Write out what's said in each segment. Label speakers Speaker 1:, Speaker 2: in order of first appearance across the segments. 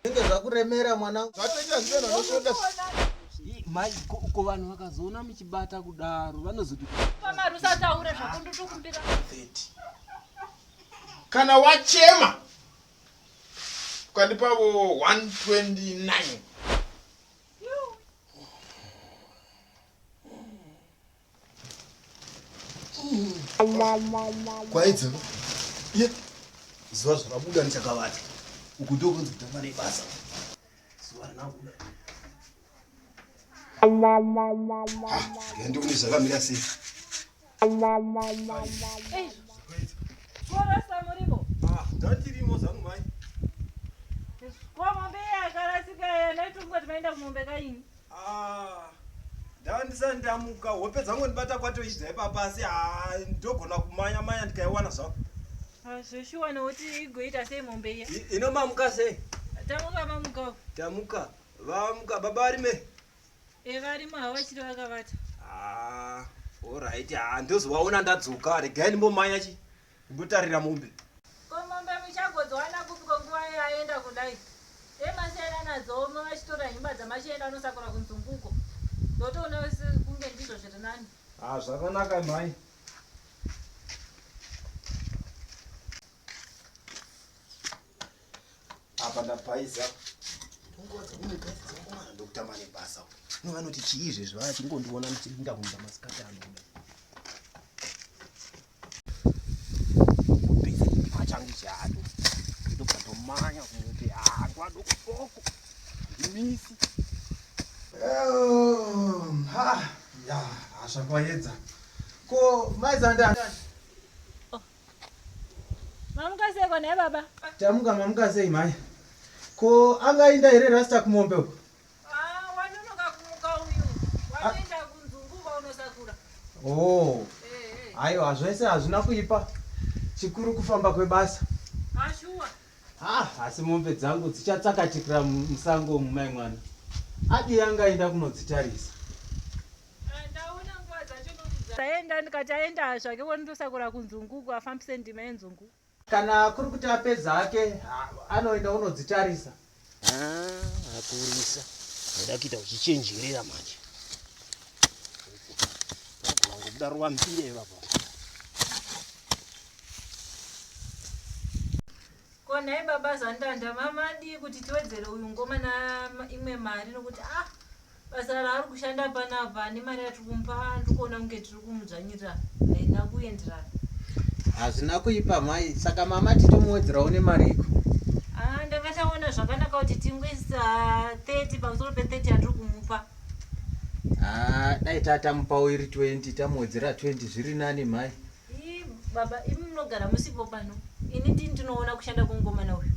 Speaker 1: Zvinenge zvakuremera mwana. Zvatenda zvinhu anoshanda.
Speaker 2: Mai ko ko vanhu vakazoona muchibata kudaro vanozoti Pamari usataure
Speaker 3: zvako ndotokumbira.
Speaker 1: 30. Kana wachema ukandipavo 129
Speaker 4: kwaidza ye zuva zvakabuda ndichakavata uku ndokunzi kutanga nebasa zuva rinabuda ndione ah, zvakamira sei
Speaker 3: Ah, ndandisa
Speaker 4: ndamuka hope dzangu ndibata kwatoidza ipapa asi ah, ndogona kumanya manya ndikaiwana zvangu Ah, zvoshuwa
Speaker 3: nokuti igoita sei mombe iya I- ino mamuka sei
Speaker 4: tamuka mamukawo
Speaker 3: tamuka
Speaker 4: vamuka baba varime evarimo
Speaker 3: havachiri vakavata Ah,
Speaker 4: alright ah, ndozovaona ndadzoka regai ndimbomanya chi kundotarira mombe. Ko mombe
Speaker 3: muchagodziwana kupi ko nguva yaenda kudai? Dai masiyaira nadzo omwe vachitora himba dzamachienda anosakura kunzunguko. Ndotoona kunge ndizvo zviri nani. Ah, zvakanaka
Speaker 4: mhai. Apa ndapaiza. Ungozi unogasi dzangowana ndokutama nebasa. No vanoti chii izvezvi vaya chingondiona ndichirinda kuita masikati anoda. zvakwaedza ko maizandani oh. mamuka
Speaker 1: sei kona
Speaker 3: baba tamuka mamuka
Speaker 1: sei mhai ko angainda here rasta kumombe uko Ah,
Speaker 3: wanonoka kumuka uyu. Wanoenda kunzungu uba unosakura. Oh.
Speaker 1: Eh, eh. Aiwa zvese hazvina kuipa. Chikuru kufamba kwebasa. Ah,
Speaker 3: shuwa. Ah, asi
Speaker 1: mombe dzangu dzichatsakatikira mu- musango umu mai mwana. Adi yanga aenda kunodzitarisa. Ah,
Speaker 3: ndaona nguva dzacho ndokuza. Taenda ndikati aenda zvake wonitosakura kunzungu uku afambise ndima yenzungu. Kana kuri kuti
Speaker 1: apedza hake anoenda unodzitarisa. Ah, akurisa.
Speaker 4: Ndoda kuita uchichenjerera manje. Kuda ruwa mpire ipapo. Ko
Speaker 3: nhai baba Zandanda mama adii kuti tiwedzere uyu ngoma na imwe mari nokuti ah Basa raari kushanda panapa nemari yatiri kumupa ndiri kuona kunge tiri kumudzvanyirira haina kuenderana. Hazvina
Speaker 1: kuipa mhai, saka mama titomuwedzerawo nemariko. Ah, ndanga
Speaker 3: taona zvakanaka kuti tingoisa 30 pamusoro pe 30 yatiri kumupa. Ah,
Speaker 1: dai tatamupawo iri 20 tamuwedzera 20 zviri nani mhai. Ii baba
Speaker 3: imi munogara musipo pano ini ndini ndinoona kushanda kwemukomana uyu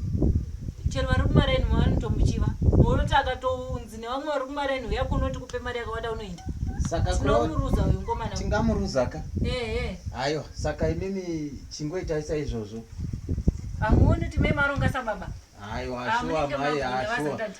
Speaker 3: chero vari kumaraini mavanotomuchiva unoti akatounzi nevamwe vari kumaraini uya kuno tikupe mari yakawanda unoenda saka kuno- tinomuruza
Speaker 1: uyu mukomana
Speaker 3: uyu. tingamuruzaka
Speaker 1: ehe aiwa
Speaker 3: saka imimi
Speaker 1: chingoitai saizvozvo hamuoni
Speaker 3: kuti mai maronga sababa aiwa Hamunenge shuwa
Speaker 1: mai magona basa ashuwa ndati.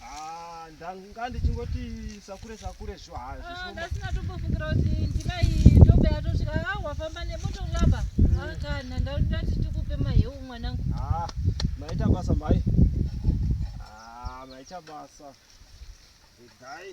Speaker 3: Ah,
Speaker 4: ndanga ndichingoti sakure sakure zvo hazvo. Ah, ndasina tombofungira
Speaker 3: kuti ndimai tobe atosvika ah wafamba nemoto ulamba. Mm. Ah, kana ndakuda kuti tikupe maheu mwanangu. Ah, maita
Speaker 4: basa mai. Ah, maita basa. Dai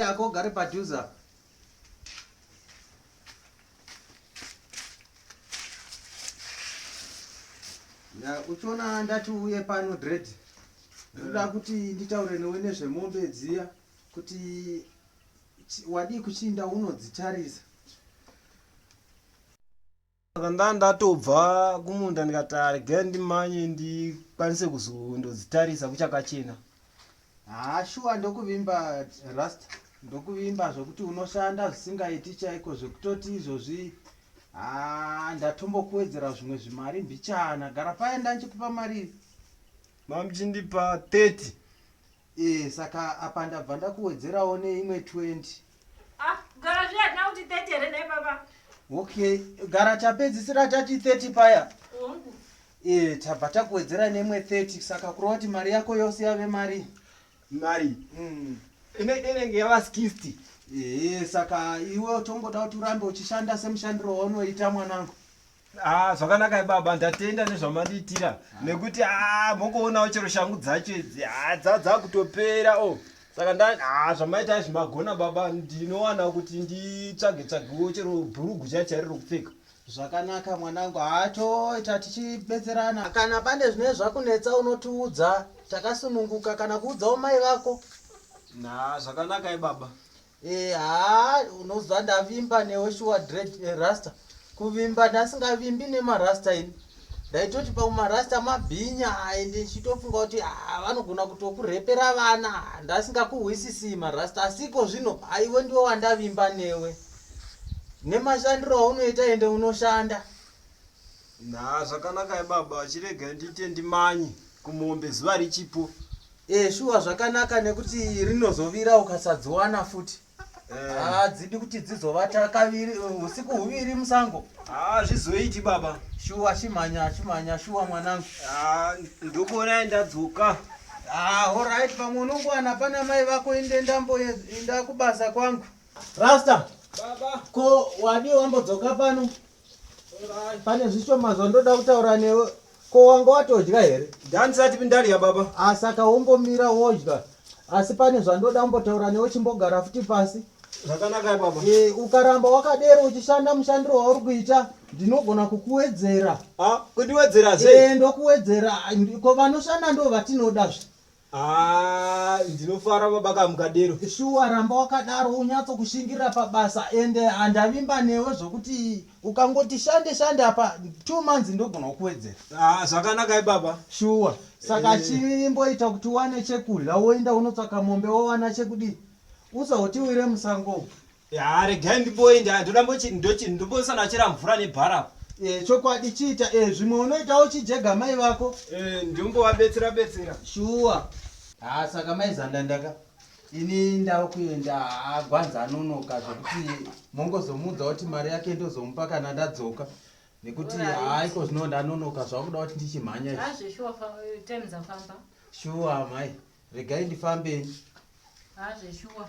Speaker 1: Yako ugare padhuze apa. Ya uchiona ndati uye pano dread. Ndoda eh. kuti nditaure newe nezvemombe dziya kuti wadii kuchinda unodzitarisa.
Speaker 4: saka ndanga ndatobva kumunda ndikati regai ndimanye ndikwanise kuzondodzitarisa kuchakachena haa
Speaker 1: shuwa ndokuvimba rust ndokuvimba zvekuti unoshanda zvisingaiti chaiko zvekutoti izvozvi haa ndatombokuwedzera zvimwe zvimari mbichana gara paye ndanchikupa mari mamchindipa
Speaker 4: 30 Eeh saka apa
Speaker 1: ndabva ndakuwedzerawo neimwe 20. Ah kugara
Speaker 3: zviya hatina kuti 30 here nhai baba? Okay
Speaker 1: gara tapedzisira tati 30 paya. Hongu. Eeh
Speaker 3: tabva
Speaker 1: takuwedzera neimwe 30 saka kureva kuti mari yako yose yave mari. Mari?
Speaker 4: Mm. Ine inenge yava 60. Eeh saka iwe
Speaker 1: utongoda kuti urambe uchishanda semushandiro waunoita mwanangu. Ah, zvakanaka
Speaker 4: baba ndatenda nezvamandiitira ah. nekuti ah, mokoonawo chero shangu dzacho idzi ah, dzadzakutopera o oh. saka nda ah, zvamaita izvi magona baba ndinowana kuti nditsvage tsvagewo chero bhurugu chachairi rokupfeka zvakanaka
Speaker 1: mwanangu hatoita tichibetserana kana pane zvine zvakunetsa unotiudza takasununguka kana kuudzawo mai vako na
Speaker 4: zvakanaka ibaba Eh, haa unoziva
Speaker 1: ndavimba newe shuwa dread eh, rasta kuvimba ndasingavimbi nemarasta ini ndaitoti pamwe marasta mabhinya and ndichitofunga kuti ah, vanogona kutokurepera vana ndasingakuhwisisii marasta asiko zvino aiwe ndiwe wandavimba newe nemashandiro aunoita ende unoshanda na zvakanaka
Speaker 4: ibaba chiregai ndiite ndimanyi kumombe zuva richipo Eh shuwa
Speaker 1: zvakanaka nekuti rinozovira ukasadziwana futi. Hadzidi ah, kuti dzizovata kaviri eh, usiku huviri musango. Ah zvizoiti
Speaker 4: baba. Shuwa chimhanya
Speaker 1: chimhanya shuwa mwanangu. Ah ndokuona
Speaker 4: ndadzoka. Ah alright
Speaker 1: pamwe unongwana pana mai vako inde ndambo inda kubasa kwangu. Rasta. Baba. Ko
Speaker 4: wadi
Speaker 1: wambodzoka pano? pane zvishoma zvandoda kutaura newe ko wanga watodya here ndandisati pindadya
Speaker 4: baba asaka ah, wombomira
Speaker 1: wodya asi pane zvandoda kumbotaura newe chimbogara futi pasi zvakanaka baba
Speaker 4: e, ukaramba wakadero
Speaker 1: uchishanda mushandiro wauri kuita ndinogona kukuwedzera ah, kundiwedzera
Speaker 4: sei e, ndokuwedzera
Speaker 1: ko vanoshanda ndo vatinodazve Haa ndinofara
Speaker 4: baba ka mukadero. Shuwa ramba
Speaker 1: wakadaro unyatso kushingirira pabasa ende handavimba newe zvokuti ukangoti shande shande apa two months ndogona kukuwedzera. Haa zvakanakai
Speaker 4: baba. Shuwa saka
Speaker 1: Eh. chimboita kuti uwane chekudya woinda unotsvaka mombe wowana chekudii usautiwire musango umu. Haa regai
Speaker 4: ndiboyi ndoda mbochi ndochi ndombosana chera mvura nebhara apo. Eh chokwadi
Speaker 1: chiita eh zvimwe unoitawo chijega mai vako. Eh ndombovabetsera
Speaker 4: betsera. Shuwa.
Speaker 1: Haa saka mai zandandaka ini ndava kuenda haa gwanza anonoka zvekuti mongozomuudza kuti mari yake ndozomupa kana ndadzoka nekuti Alright. haa iko zvino ndanonoka zvakuda kuti ndichimhanya izvi. Hazve shuwa fa- eh,
Speaker 3: time dzafamba. Shuwa mai
Speaker 1: regai ndifambe. Hazve
Speaker 3: shuwa.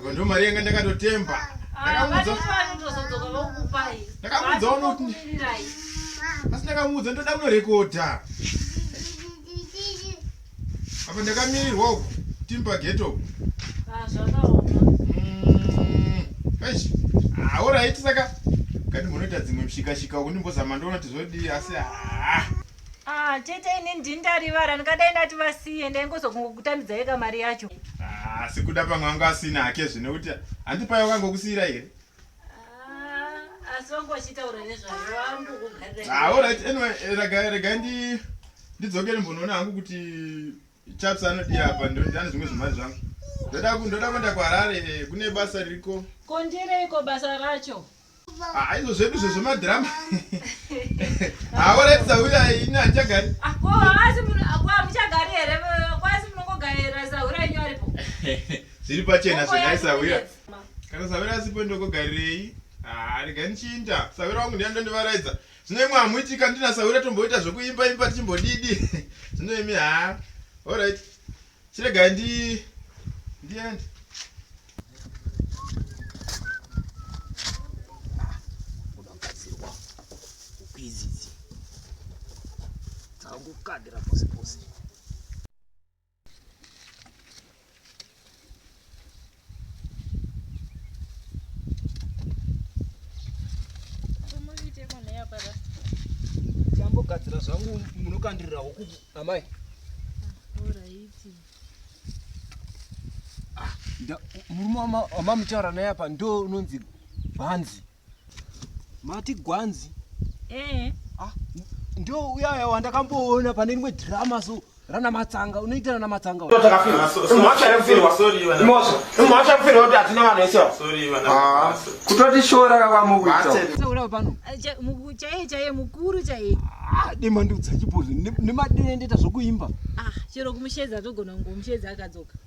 Speaker 5: apa ndo mari yanga ndakatotemba asi ndakamuudza ndoda kunorekodha apa ndakamirirwa uku timba geto aoraiti mm, saka kati munoita dzimwe mshikashika uku ndimbozama ndoona tizodii asi haa Ah,
Speaker 3: tete ini ndini ndarivara ndingadai ndati vasiye ndaingozokungokutambidza yeka mari yacho ah, asi kuda
Speaker 5: pamwe anga asina hake zvino kuti handi payo kangokusiyira here
Speaker 3: ah, asi vangu vachitaura nezvayo vangu kugaaaorit ah,
Speaker 5: anyway eh, regai ndi ndidzokere mbonoona hangu kuti chaps anodii apa ndane zvimwe zvimari zvangu ndoda ndoda kuenda
Speaker 3: kuharare
Speaker 5: eh, kune basa ririko kondireiko basa
Speaker 3: racho
Speaker 5: Ah, izvo zvedu zve zvemadhirama hawaratidza ah, uya ini handichagari muchagari here kwasi
Speaker 3: munongogarira sahura enyu aripo zviri
Speaker 5: pachena zvenai sahura kana sahura asipo ndokogarirei ah, rega ndichiinda sahura wangu ndiya ndondivaraidza zvino imwe hamuitika ndina sahura tomboita zvekuimba imba tichimbodidi zvino imi haa orit Chiregai ndi ndiende.
Speaker 2: Unobatsirwa. Ukwizizi. Dzakukadira pose pose. Chambogadzira zvangu munokandirira huku amai. Ah, murume wamamutaura naye apa ndo unonzi bhanzi. mati gwanzi eh. ah, ndio uyaya wandakamboona pane rimwe drama so rana matsanga unoita rana matsanga
Speaker 3: demandudza
Speaker 2: chipozi nemadene ndoita zvokuimba ah, chero kumushedza
Speaker 3: togona kungomushedza akadzoka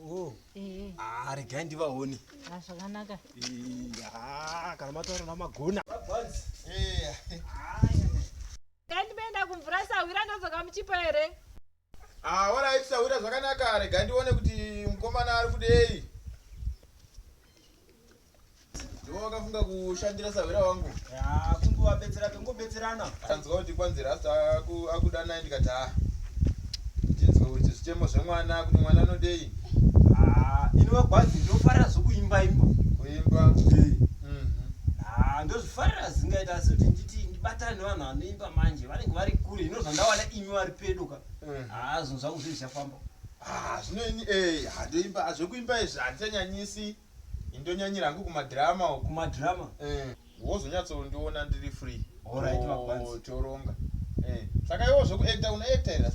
Speaker 3: Oh. Eh. Ah,
Speaker 2: regai ndivaone. Ah, zvakanaka.
Speaker 3: Eh, ah,
Speaker 2: kana mataura namagona. Eh.
Speaker 3: Kai ndimeenda kumvura sahwira ndodzoka muchipo here? Ah,
Speaker 5: alright sahwira zvakanaka. Regai ndione kuti mukomana ari kudei. ndovakafunga kushandira sahwira wangu kunguvabetsera
Speaker 4: tongobetserana tanzwa kuti kwanzi
Speaker 5: rasta akuda naye ndikati ha tinzwa kuti zvichemo zvemwana kuti mwana anodei
Speaker 4: inova gwazi ndofarira zvokuimba imba kuimba
Speaker 5: mhm.
Speaker 4: ndozvifarira zingaita asi kuti nditi ndibatane nevanhu vanoimba manje vanenge vari kure ino zvandawana imi vari pedo ka mhm. haa zvinhu zvangu zviri zvichafamba zvino
Speaker 5: ini eh, handoimba zvekuimba izvi handichanyanyisi Ini ndonyanyira hangu kuma drama uko. Kuma drama.
Speaker 4: Eh. Wozonyatsondiona
Speaker 5: ndiri free. Alright to, makwanzi.
Speaker 4: Toronga.
Speaker 5: Eh. Saka iwo zvoku actor una actor here?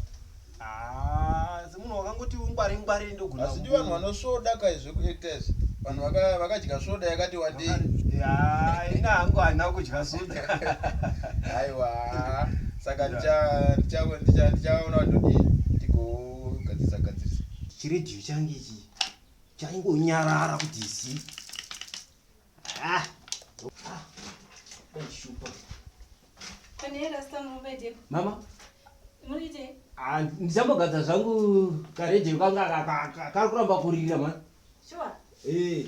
Speaker 5: Ah,
Speaker 4: semunhu wakangoti ungwari ngwari ndogona. Asi ndi vanhu vanosvoda
Speaker 5: kai zveku actor izvi. Vanhu vaka vakadya soda yakati wandei. Ya,
Speaker 4: ina hangu hana kudya soda. Aiwa.
Speaker 5: Saka ndicha ndicha ndicha ndichaona kuti tigogadzisa gadzisa.
Speaker 4: Chiridhiyo change ichi. chaingonyarara kuti zi ah, ah, mama
Speaker 3: ah, ndichambogadza
Speaker 4: zvangu karedio kanga kari kuramba kurira ma sure.
Speaker 3: hey. Eh.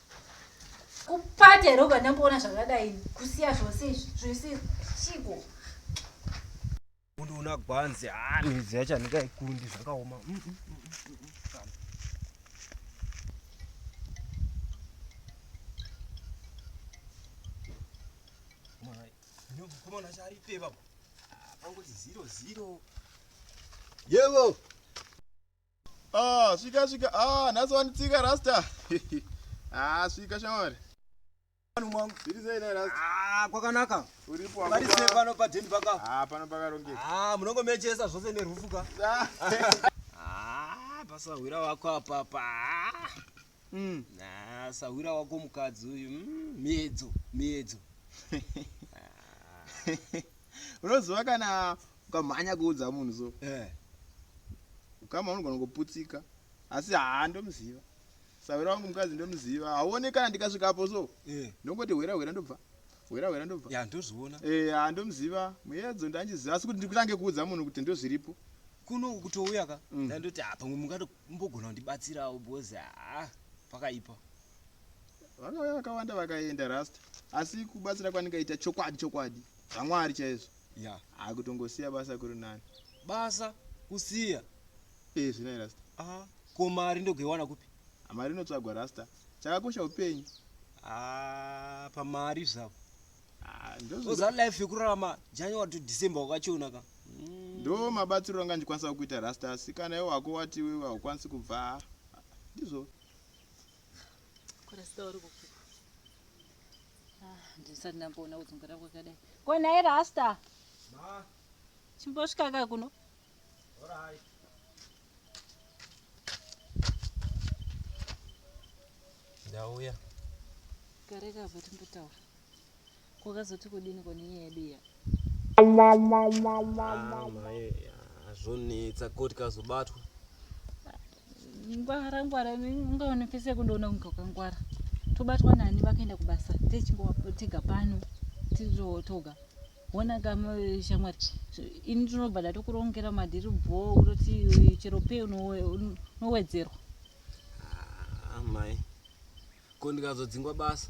Speaker 3: kupata here ubva ndamboona zvakadai kusiya zvose izvi zvese chiko
Speaker 4: undiona gwanzi ha midzi yacho handikaikundi zvakaoma mm, mm, mm, yevo Ah,
Speaker 5: svika svika. Ah, nhasi wanditsika rasta. ah, svika shamwari. Vanhu mwangu, zviri sei na rasta? Ah, kwakanaka. Uripo
Speaker 4: wangu. Vari sei
Speaker 5: pano pa den paka?
Speaker 4: Ah, pano paka ronge. Ah,
Speaker 5: munongo mechesa zvose ne
Speaker 4: rufu ka. Ah. ah, basa hwira wako apa pa. Mm. Ah, sahwira wako mukadzi uyu. Mm, miedzo, miedzo.
Speaker 5: Unoziva kana ukamhanya kuudza munhu so eh. ukama unogona kuputsika asi haa ndomuziva sahwira wangu mukadzi ndomuziva hauone kana ndikasvikapo so eh. ndongoti hwera hwera ndobva hwera hwera ndobva ya
Speaker 4: ndozviona eh, haa ndomuziva
Speaker 5: muyedzo ndandiziva asi kuti ndikutange kuudza munhu kuti ndozviripo kuno kutouya
Speaker 4: ka mm. ndandoti ha pamwe mungatombogona kundibatsirawo because haa pakaipa
Speaker 5: vakauya vakawanda vakaenda rasta asi kubatsira kwandingaita chokwadi chokwadi zvamwari chaizvo ya haa kutongosiya basa kuri nani basa
Speaker 4: kusiya ee eh, zvinai
Speaker 5: rasta aa ko mari
Speaker 4: ndogoiwana kupi ah, mari inotsvagwa
Speaker 5: rasta chakakosha upenyu aa ah, pamari
Speaker 4: zvavo ah, oza life yekurarama january to december wakachiona ka mm. ndo
Speaker 5: mabatsiro anga ndikwanisa kuita rasta asi kana iwe wako wati iwe haukwanisi kubva ndizvo
Speaker 3: ndisati ndamboona kudzungura kwakadai ko nhai rasta chimbosvika ka kuno
Speaker 4: ndauya
Speaker 3: kare kava timbotaura Kwakazoti kudini ko nenyaya yedu iya? Ah, mai ah,
Speaker 4: zvonetsa ko tikazobatwa ngwara
Speaker 3: ngwara ungaone pese yakundoona kunge ukangwara tobatwa nani vakaenda kubasa techingovatega pano titotoga hona kama shamwari ini tinobva ndatokurongera madhiri bho kutoti chero pei unowedzerwa
Speaker 4: Ah, mai ko ndikazodzingwa basa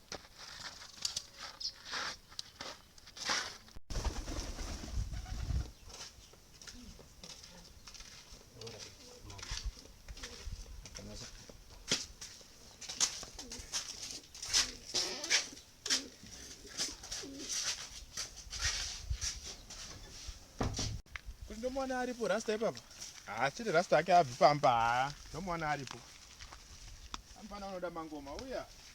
Speaker 5: ndomuona aripo rasta ipapa haachiri rasta ake abvi pamba haa ndomuona aripo amufana unoda mangoma uya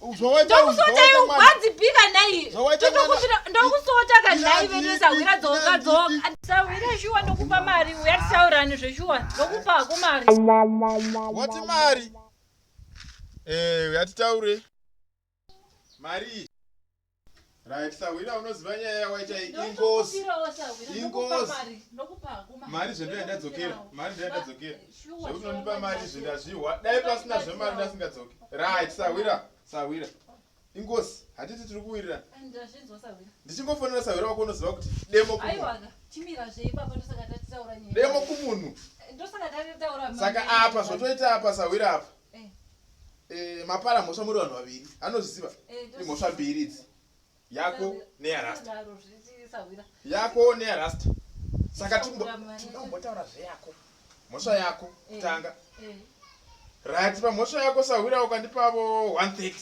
Speaker 3: ndokusota iwe wadzipika nhai ndokusota ka nhai vene sahwira dzoka dzoka sahwira shuwa ndokupa mari uya tisaurani zveshuwa ndokupa hako mari wati
Speaker 5: mari eh, uya titaure mari Right, sahwira unoziva nyaya yawaita ingozi. Ingozi. Mari zvendo yandadzokera. Mari zvendo yandadzokera. Zvekuti unondipa mari zvendo azvihwa. Dai pasina zvemari ndasingadzoke. Right, sahwira. Sahwira. Ingozi. Hatiti tiri kuwirira. Ndazvinzwa sahwira. Ndichingofonera sahwira wako unoziva kuti demo kumunhu. Aiwa. Chimira zve ipapa ndosaka tatitaura nyaya. Demo kumunhu. Ndosaka tatitaura. Saka apa zvotoita apa sahwira apa. Eh. Eh, mapara mhosva muri vanhu vaviri anozviziva eh, imhosva mbiri idzi yako neyarasta yako neyarasta saka tinombotaura zveyako mhosva yako kutanga rati pamhosva yako sahwira ukandipavo 130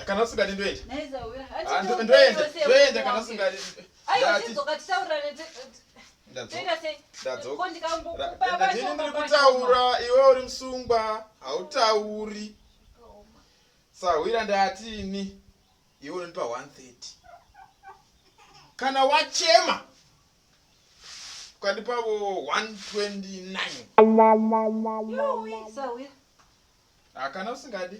Speaker 5: kana usingadi ndoenda ndoenda ndoenda kana usingadi ndini ndiri kutaura iwe uri musungwa hautauri sahwira ndati ini iwe unondipa 130 kana wachema ukandipavo 129 hakana usingadi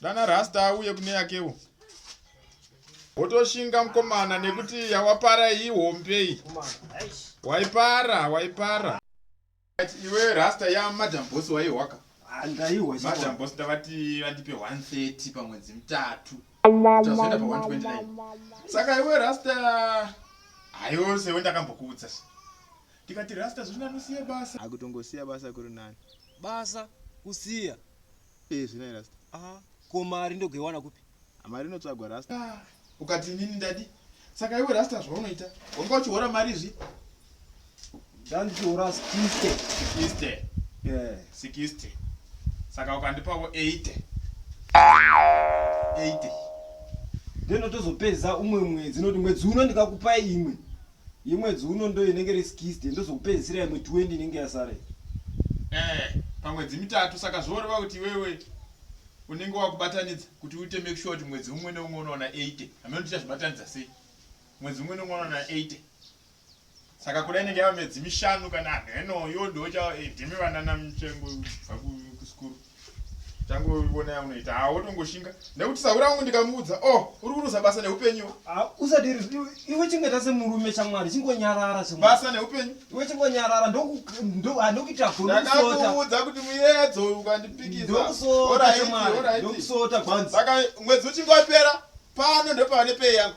Speaker 5: dana rasta auye kune yakewo wotoshinga mukomana nekuti yawapara iyi hombei waipara waipara iwe rasta ya madam boss waihwaka ah, ndaihwa madam boss ndavati vandipe 130 pamwedzi mutatu tazoenda pa 129 saka iwe rasta hayose we ndakambokuudza ndikati rasta zvino anosiya basa akutongosiya basa kuri
Speaker 4: nani basa
Speaker 2: kusiya Eh, zvinai
Speaker 5: rasta. Ah, ko mari
Speaker 2: ndogoiwana kupi? Ah, mari inotsvagwa
Speaker 5: rasta. Ah, ukati nini ndadi? Saka iwe rasta zvaunoita? Wanga uchihora mari zvi? Ndandichihora
Speaker 2: 60. 60. Yeah,
Speaker 5: 60. Saka ukandipawo 80. 80.
Speaker 2: Ndinotozopedza umwe mwedzi noti mwedzi uno ndikakupa imwe. Yemwedzi uno ndo inenge iri 60 ndozokupedzisira imwe 20 inenge yasara iyi. Eeh
Speaker 5: pamwedzi mitatu saka zvoreva kuti iwewe unenge wakubatanidza kuti uite make sure kuti mwedzi umwe neumwe unowana 80 hameno kuti uchazvibatanidza sei mwedzi umwe neumwe unowana 80 saka kuda inenge yava mwedzi mishanu kana hameno iyo ndoocha eh, ndimi vanana mutsvengo kubva kusikuru tangoona yaunoita ha wotongoshinga nekuti sahura wangu ndikamuudza o oh, uri kuruza basa neupenyu ah, usadiri
Speaker 2: iwe chingeta semurume chamwari chingonyarara basa neupenyu
Speaker 5: iwe chingonyarara
Speaker 2: ndokuita ah, gonokuudza
Speaker 5: kuti muyedzo ukandipikizandokusota
Speaker 2: gwanzi saka
Speaker 5: mwedzi uchingopera
Speaker 2: pano
Speaker 5: ndopane pei yangu